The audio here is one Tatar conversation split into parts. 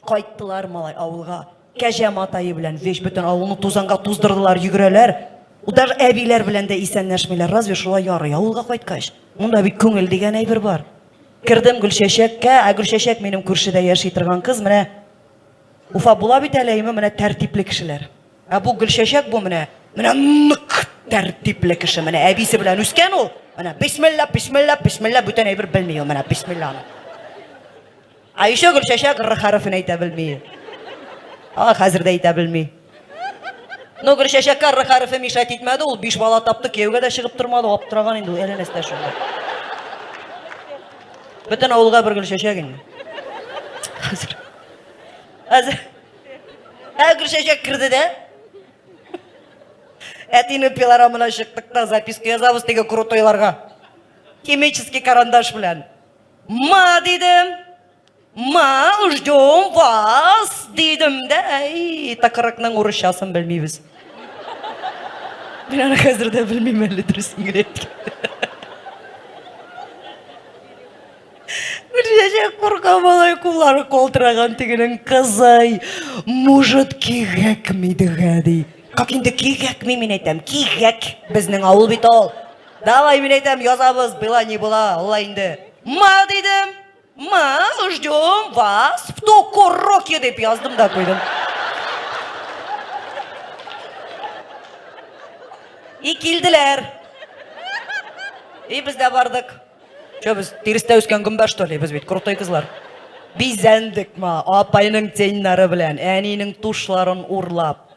Кайттылар малай авылга. Кәҗә матае белән вещь бөтен авылны тузанга туздырдылар, йөгерәләр. Даже әбиләр белән дә исәнләшмиләр. Разве шулай ярый авылга кайткач? Монда бит күңел дигән әйбер бар. Кердем Гөлчәчәккә, ә Гөлчәчәк минем күршедә яши торган кыз, менә Уфа була бит әле, әйме, менә тәртипле кешеләр. Ә бу Гөлчәчәк бу менә, менә нык тәртипле кеше, менә әбисе белән үскән ул. Менә бисмилла, бисмилла, бисмилла, бүтән әйбер белми ул, менә бисмилланы. Айшә Гөлчәчәк р хәрефен әйтә белми. А, хәзер дә әйтә белми. Ну, Гөлчәчәккә р хәрефе мишать итмәде, ул биш бала тапты, кияүгә дә чыгып тормады, аптыраган инде ул, әле нәрсә шунда. Бөтен авылга бер Гөлчәчәк инде. Хәзер. Хәзер. Ә Гөлчәчәк керде дә. Әтине пилорамына чыктык та записка язабыз теге крутойларга. Химический карандаш белән. Ма дидем, ма ждем вас дидем дә, әй, тыкрыкның урысчасын белмибез. Мин аны хәзер дә белмим әле дөресен генә Чәчәк курка малай куллары калтыраган тегенең кызый. Может, кигәкми дигә ди. Как инде кигәкми мин әйтәм, кигәк. Безнең авыл бит ул. Давай, мин әйтәм, язабыз, была не была, алла инде. Ма дидем, ма, ждем вас в ту куроке дип яздым да куйдым. И килделәр. И без дә бардык. Чё, без тирестә үскән гөмбә, что ли? Без бит крутой кызлар. Бизәндек ма, апайның теннары белән, әнинең тушларын урлап.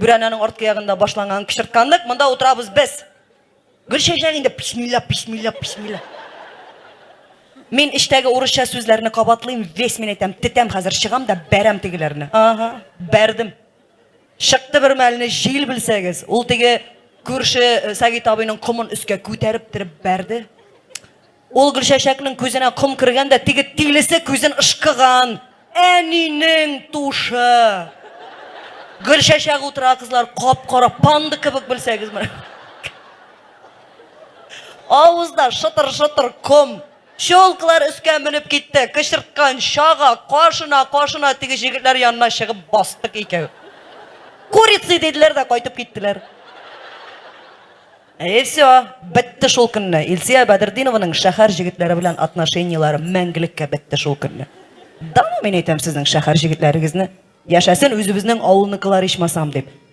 Бүрәнәнең арткы ягында башланган кычыртканлык, монда утырабыз без. Гөл чәчәк инде писмилла, писмилла, писмилла. Мин эчтәге урысча сүзләрне кабатлыйм, весь мин әйтәм, тетәм хәзер, чыгам да бәрәм тегеләрне. Ага, бәрдем. Чыкты бер мәлне җил белсәгез, ул теге күрше э, Сәгит абыйның комын өскә күтәреп торып бәрде. Ул Гөлчәчәкнең күзенә ком кергән дә теге тилесе күзен ышкыган. Әнинең тушы! Гөлчәчәк утыра, кызлар, кап-кара панда кебек белсәгез менә. Авызда шытыр-шытыр ком. Чулкылар өскә менеп китте. Кычырткан чага, кашына, кашына теге җегетләр янына чыгып бастык икәү. Курицы диделәр дә кайтып киттеләр. Әйе, все, бетте шул көнне. Илсия Бәдердинованың шәһәр җегетләре белән атношенияләре мәңгелеккә бетте шул көнне. Даны мин әйтәм сезнең шәһәр җегетләрегезне. Яшәсен үзебезнең авылныкылар ичмасам дип.